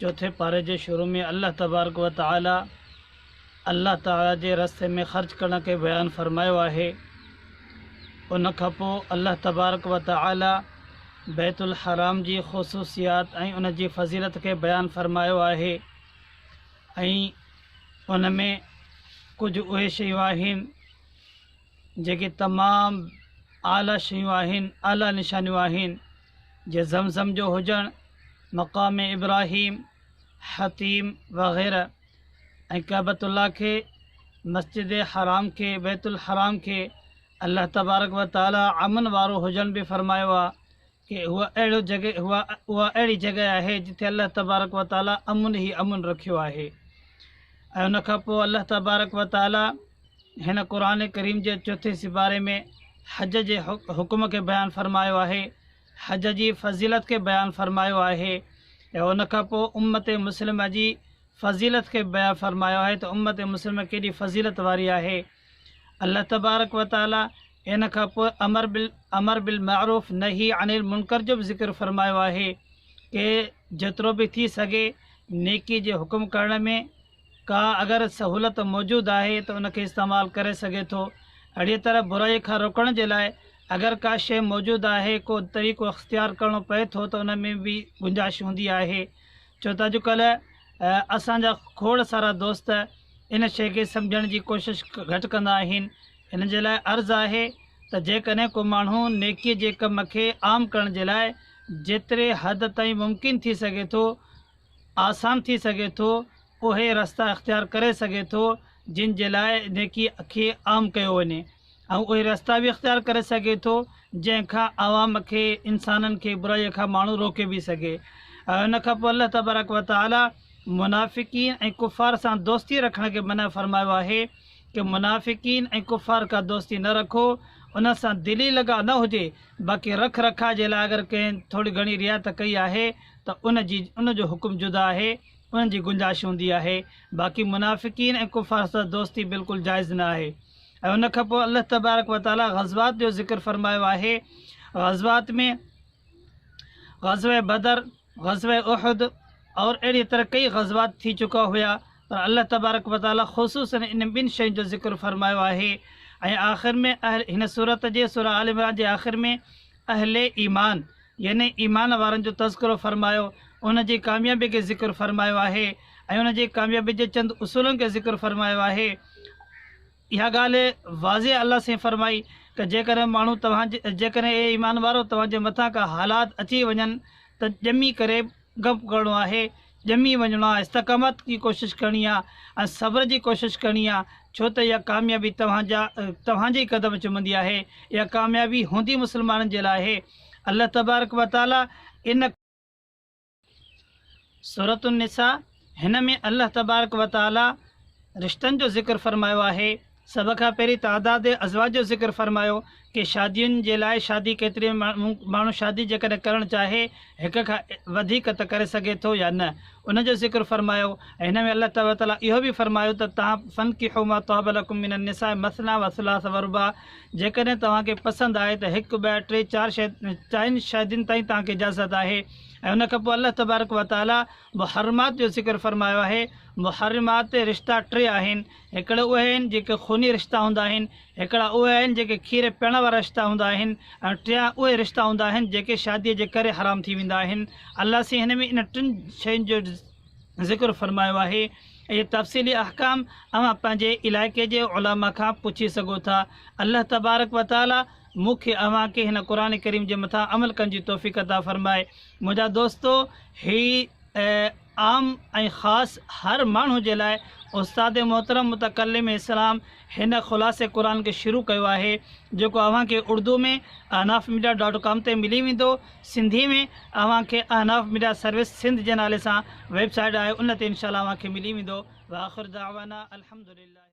چوٿين پاري جي شروع ۾ الله تبارڪ و تعالي الله تعالي جي رستي ۾ خرچ ڪرڻ کي بيان فرمايو آهي ان کان پوء الله تبارڪ و تعالي بيت الحرام جي خصوصيات ۽ ان جي فضيلت کي بيان فرمايو آهي ۽ ان ۾ ڪجهه اهي شيون آهن جيڪي تمام اعليٰ شيون آهن اعليٰ نشانيون آهن جي زمزم جو هجڻ، مقام ابراهيم، حطيم وغيره ۽ ڪعبة الله کي، مسجد حرام کي، بيت الحرام کي الله تبارڪ و تعاليٰ امن وارو هجڻ به فرمايو آهي ڪي هو اهڙو جڳهه هو اها اهڙي جڳهه آهي جتي الله تبارڪ و تعاليٰ امن ئي امن رکيو آهي ۽ ان کان پوء الله تبارڪ و تعاليٰ هن قرآن ڪريم جي چوٿين سيپاري ۾ حج جي حڪم کي بيان فرمايو آهي، حج جي فضيلت کي بيان فرمايو آهي ۽ ان کان پوء امت مسلمه جي فضيلت کي بيان فرمايو آهي ته امت مسلمه ڪيڏي فضيلت واري آهي. الله تبارڪ و تعالي ان کان پوء امر امر بالمعروف نهي عن المنڪر جو به ذڪر فرمايو آهي ڪي جيترو به ٿي سگهي نيڪي جي حڪم ڪرڻ ۾ ڪا اگر سهولت موجود آهي ته ان کي استعمال ڪري سگهي ٿو. اهڙيء طرح برائيء کان روڪڻ جي لاء اگر ڪا شيء موجود آهي، ڪو طريقو اختيار ڪرڻو پئي ٿو ته ان ۾ به گنجائش هوندي آهي. ڇو ته اڄڪلهه اسان جا کوڙ سارا دوست ان شيء کي سمجهڻ جي ڪوشش گهٽ ڪندا آهن. ان جي لاء عرض آهي ته جيڪڏهن ڪو ماڻهو نيڪيء جي ڪم کي عام ڪرڻ جي لاء جيتري حد تائين ممڪن ٿي سگهي ٿو، آسان ٿي سگهي ٿو، اهي رستا اختيار ڪري سگهي ٿو جن جي لاء نيڪي کي عام ڪيو وڃي ۽ اهي رستا به اختيار ڪري سگهي ٿو جنهن کان عوام کي، انسانن کي، برائيء کان ماڻهو روڪي به سگهي. ان کان پوء الله تبارڪ و تعالي منافقين ۽ ڪفار سان دوستي رکڻ کي منع فرمايو آهي ته منافقين ۽ ڪفار کان دوستي نه رکو، انهن سان دلي لڳاء نه هجي، باقي رک رکاء جي لاء اگر ڪنهن ٿوري گهڻي رعايت ڪئي آهي، ته ان جي ان جو حڪم جدا آهي انهن جي گنجائش هوندي آهي باقي منافقين ۽ ڪفار سان دوستي بلڪل جائز نه آهي ۽ ان کان پوء الله تبارڪ و تعالي غزوات جو ذڪر فرمايو آهي غزوات ۾ غزوه بدر غزوه احد اور اهڙي طرح ڪئي غزوات ٿي چڪا هيا پر الله تبارڪ و تعالي خصوصا ان ٻن شين جو ذڪر فرمايو آهي ۽ آخر ۾ اهل هن صورت جي سورة آل عمران جي آخر ۾ اهل ايمان يعني ايمان وارن جو تذڪرو فرمايو، ان جي ڪاميابي کي ذڪر فرمايو آهي ۽ ان جي ڪاميابي جي چند اصولن کي ذڪر فرمايو آهي. اها ڳالهه واضح الله سائين فرمائي ته جيڪڏهن ماڻهو توهان جي جيڪڏهن اي ايمان وارؤ توهان جي مٿان ڪا حالات اچي وڃن ته ڄمي ڪري گپ ڪرڻو آهي ڄمي وڃڻو آهي استقامت جي ڪوشش ڪرڻي آهي ۽ صبر جي ڪوشش ڪرڻي آهي ڇو ته اها ڪاميابي توهان جا توهان جي قدم چمندي آهي اها ڪاميابي هوندي مسلمانن جي لاء آهي الله تبارڪ وتعالي ان سورة النساء هن ۾ الله تبارڪ و تعالي رشتن جو ذڪر فرمايو آهي، سڀ کان پهرين تعداد ازواج جو ذڪر فرمايو ڪي شادين جي لاء شادي ڪيتري ماڻهو شادي جيڪڏهن ڪرڻ چاهي هڪ کان وڌيڪ ته ڪري سگهي ٿو يا نه ان جو ذڪر فرمايو ۽ هن ۾ الله تبارڪ و تعالي اهو به فرمايو ته تان فنڪحو ما طاب لکم من النساء مثني و ثلاث و رباع جيڪڏهن توهان کي پسند آهي ته هڪ ٻه ٽي چار شايد چائن شادين تائين توهان کي اجازت آهي ۽ ان کان پوء الله تبارڪ و تعالي محرمات جو ذڪر فرمايو آهي، محرمات رشتا ٽي آهن، هڪڙا اهي آهن جيڪي خوني رشتا هوندا آهن، هڪڙا اهي آهن جيڪي کير پيئڻ وارا رشتا هوندا آهن ۽ ٽيان اهي رشتا هوندا آهن جيڪي شاديء جي ڪري حرام ٿي ويندا آهن. الله سين هن ۾ انهن ٽن شين جو ذڪر فرمايو آهي. اهي تفصيلي احڪام اوهان پنهنجي علائقي جي علماء کان پڇي سگهو ٿا. الله تبارڪ وتعاليٰ مون کي اوهان کي هن قرآن ڪريم جي مٿان عمل ڪرڻ جي توفيق عطا فرمائي منهنجا دوستو هي عام ۽ خاص هر ماڻهو جي لاء استاد محترم متڪلم اسلام هن خلاصه قرآن کي شروع ڪيو آهي جيڪو اوهان کي اڙدو ۾ احناف ميڊيا ڊاٽ ڪام تي ملي ويندو سنڌي ۾ اوهان کي احناف ميڊيا سروس سنڌ جي نالي سان ويب سائيٽ آهي ان تي انشاء الله اوهان کي ملي ويندو واخر دعوانا الحمدلله